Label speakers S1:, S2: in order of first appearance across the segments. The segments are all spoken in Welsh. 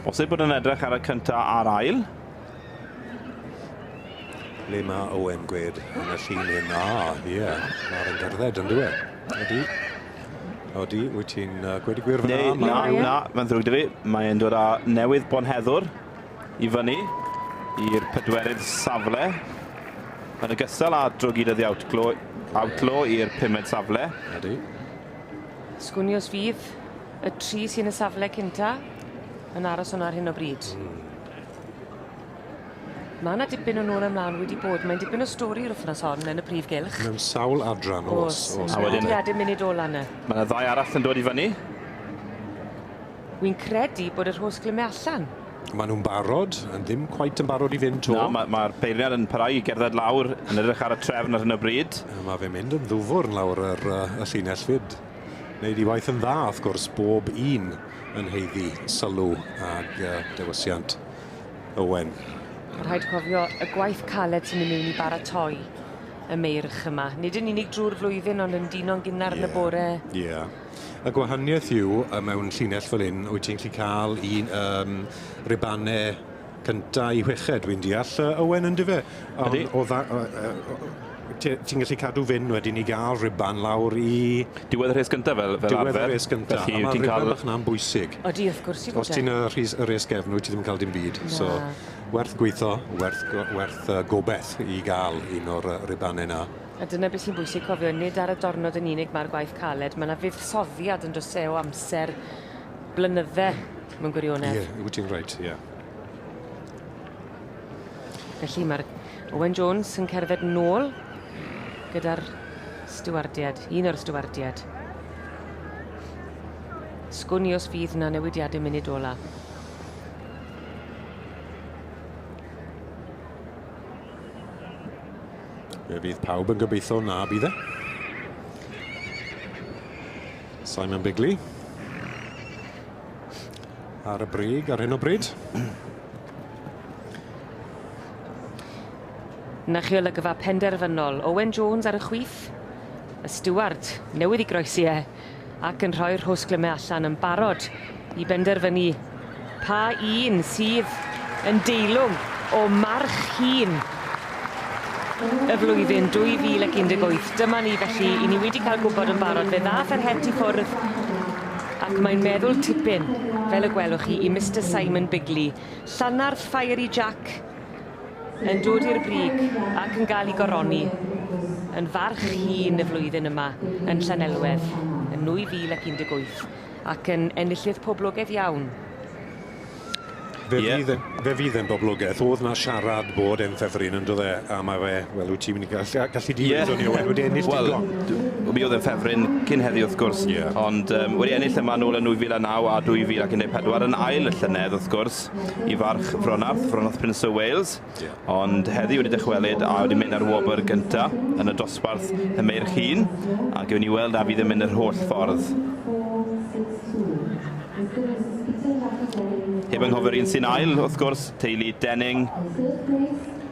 S1: Os ei bod yn edrych ar y cynta a'r ail.
S2: Le mae Owen gwed yn y llun hyn? Ah, ie, yeah. mae'r yn gerdded yn dweud. Ydy. Odi, wyt ti'n uh, gwedi gwir fyna? Neu, na, na, mae'n ddrwg
S1: dy fi. Mae'n dod â newydd bonheddwr. I fyny i'r pedwerydd safle, yn ogystal â drogiad oddi outlaw, outlaw i'r pumed safle. Ydy.
S3: Sgwn i os fydd y tri sy'n y safle cynta yn aros hwnna ar hyn o bryd. Mm. Mae yna dipyn o nôl ymlaen wedi bod. Mae'n dipyn o stori yr wythnos hon yn y prif gylch. Mewn sawl adran
S2: os. Os, os. A wedyn... Wedi
S3: munud ola yna. Mae yna ddau arall yn dod
S1: i fyny.
S3: Wi'n credu bod yr hos glyme allan. Maen nhw'n barod,
S2: yn ddim cweit yn barod i fynd 'to. Na, ma' ma'r peiriant yn
S1: parhau i gerdded lawr, yn edrych ar y trefn ar hyn o bryd. A ma' fe'n mynd yn ddwfwrn
S2: lawr yr yy y llinell 'fyd. Neud 'i waith yn dda, wrth gwrs, bob un yn haeddu sylw ag yy dewisiant Owen. Ma' rhaid
S3: cofio y gwaith caled sy'n myn' miwn i baratoi y meirch yma. Nid yn unig drwy'r flwyddyn ond yn dino'n gynnar yn y bore. Ie. Ie.
S2: Y gwahaniaeth yw yy mewn llinell fel 'yn wyt ti'n gallu ca'l un yym Ribane cynta i chweched dwi'n deall yy Owen yndyfe? Ydi. Ond o dda- yy yy o- o- ti- ti'n gallu cadw fynd wedyn i ga'l Riban lawr i... Diwedd y rhes gynta
S1: fel fel arfer. Diwedd y rhes gynta. Felly wyt
S2: ti'n ca'l... A ma' Riban bach 'na'n bwysig. Odi wrth gwrs yw bod e. Os
S3: ti'n y rhys- y res
S2: gefn wyt ti ddim yn ca'l dim byd. Na. So werth gwitho werth go- werth yy gobeth i ga'l un o'r yy Ribane 'na. A dyna beth sy'n bwysig
S3: cofio nid ar y dornod yn unig mae'r gwaith caled, mae 'na fuddsoddiad yn does e o amser blynydde mewn gwirionedd. Ie, yeah, wyt ti'n reit, ie. Yeah. Felly mae'r Owen Jones yn cerdded nôl gyda'r stiwardiad, un o'r stiwardiad. Sgwn i os fydd na newidiadau munud ola.
S2: Fe fydd pawb yn gobeithio na bydd e. Simon Bigley. Ar y brig ar hyn o bryd.
S3: Na chi olygfa penderfynol. Owen Jones ar y chwith. Y Steward newydd i groesi e. ac yn rhoi'r rhosglymau allan yn barod i benderfynu pa un sydd yn deilwng o March Hun y flwyddyn 2018. Dyma ni felly, i ni wedi cael gwybod yn barod, fe ddath yr het i ffwrdd ac mae'n meddwl tipyn, fel y gwelwch chi, i Mr Simon Bigley. Llanarth Fiery Jack yn dod i'r brig ac yn gael ei goroni yn farch hun y flwyddyn yma yn Llanelwedd yn 2018 ac yn enillydd poblogaidd iawn.
S2: Fe yeah. fydd yn, fe fydd yn boblogaidd. Oedd na siarad bod e'n ffefryn yn dod e, a mae fe, wel, wyt ti'n mynd i gallu, gallu di yeah. ni Owen, wedi ennill well, digon. Mi oedd e'n
S1: ffefryn cyn heddi wrth gwrs, yeah. ond um, wedi ennill yma nôl yn 2009 a 2014 yn ail y llynedd wrth gwrs, Wales, i Farch Fronarth, Fronarth Peninsula Wales, ond heddi wedi dychwelyd a wedi mynd ar wobr gynta yn y dosbarth y meirch hun, a gewn ni weld a fydd yn mynd yr holl ffordd. Heb anghofio'r un sy'n ail, wrth gwrs, teulu Denning.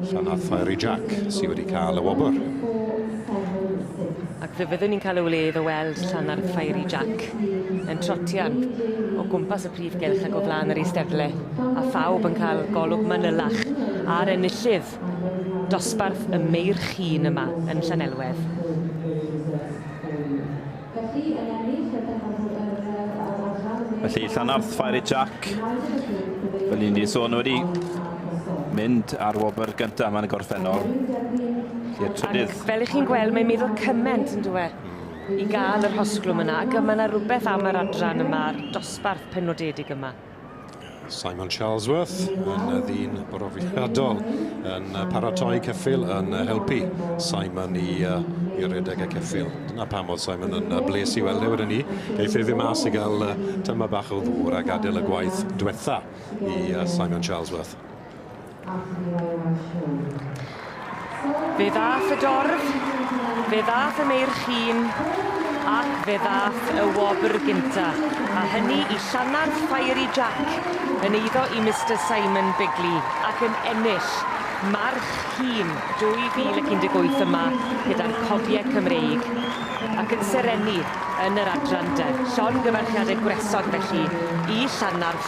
S2: Llanhad Fiery Jack sydd wedi cael y wobr.
S3: Ac fe fyddwn ni'n cael y wledd o weld Llanhad Fiery Jack yn trotian o gwmpas y prif gylch ac o flaen yr eisteddle, a phawb yn cael golwg manylach ar enillydd dosbarth y Meirch Hŷn yma yn Llanelwedd.
S1: Felly, yn ennill y pencampwr yn y Deddf ar yr Adran y Deg Felly, Llanarth Fire i Jac. Fel un di sôn wedi mynd ar wobr gyntaf yma yn y gorffennol. I'r
S3: trydydd. Fel ych chi'n gweld, mae'n meddwl cyment yn dwe i gael yr hosglwm yna. Ac mae yna rhywbeth am yr adran yma, dosbarth penodedig yma. Simon
S2: Charlesworth yn y ddyn brofiadol yn paratoi ceffil yn helpu Simon i, uh, i redeg y ceffil. Dyna pam oedd Simon yn bles i weld e wedyn ni. Geith ei ddim mas i gael uh, tyma bach o ddŵr a gadael y gwaith diwetha i uh, Simon Charlesworth.
S3: Fe ddaeth y dorf, fe ddaeth y meirchîn, ac fe ddaeth y wobr gynta, a hynny i Llanarth Fiery Jack yn eiddo i Mister Simon Bigley ac yn ennill March Hîn 2018 yma gyda'r Cofiau Cymreig ac yn serennu yn yr adran de. Llongyfarchiadau gwresog felly i Llanarth.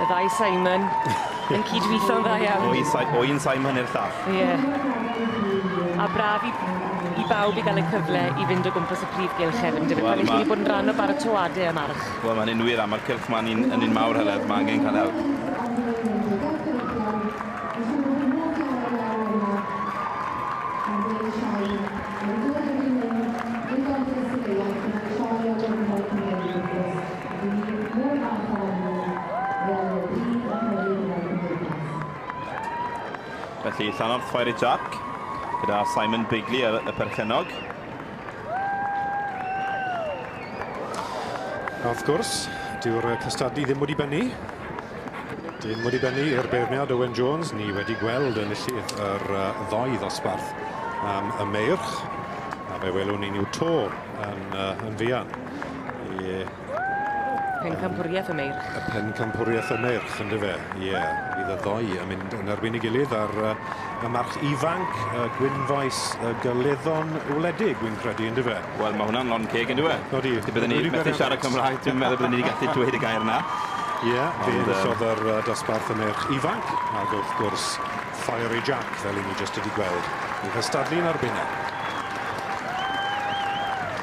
S3: Y ddau Simon yn cydwitho'n dda iawn. O un, si o un Simon i'r
S1: llall. Ie. Yeah.
S3: A braf i, i bawb i gael y cyfle i fynd o gwmpas y prif gylch hefyd, yndyfe? Well, Pan ma... i chi bod yn rhan o baratoadau am arch. Wel, mae'n un wir, a mae'r
S1: cylch ma'n un, yn un mawr, Heledd. Mae angen cael help. Mae'n dod â fi mynd i'r gorffwys y gaeaf, mae'n troi o gwmpas y mewn gwmpas. Rydyn ni mor falch ohonyn nhw, roedd y byd yn tyfu gyda'r Gymdeithas. Felly Llannorth Fiery Jack gyda Simon Bigley ar y perchennog.
S2: A wrth gwrs, dyw'r cystadlu ddim wedi bennu. Dim wedi bennu i'r beirniad Owen Jones. Ni wedi gweld enillydd yr ddoi ddosbarth am y meirch. A fe welwn ni nhw to yn, yn fuan. Ie. Yeah.
S3: Pencampwriaeth y Meirch. Y Pencampwriaeth
S2: y Meirch, yn rhyfe. Ie, yeah. bydd y ddoi yn mynd yn erbyn ei gilydd ar uh, y march ifanc, y uh, gwynfaes y uh, gyleddon wledig, wy'n credu, yn rhyfe. Wel, mae hwnna'n lon ceg
S1: yn rhyfe. No di. Byddwn ni methu
S2: siarad
S1: Cymraeg, dwi'n meddwl byddwn ni wedi gallu dweud y gair yna. Ie, yeah, fe
S2: enillodd yr uh, dosbarth y merch ifanc, ac wrth gwrs, Fiery Jack, fel i ni jyst wedi gweld, i hystadlu'n arbennig.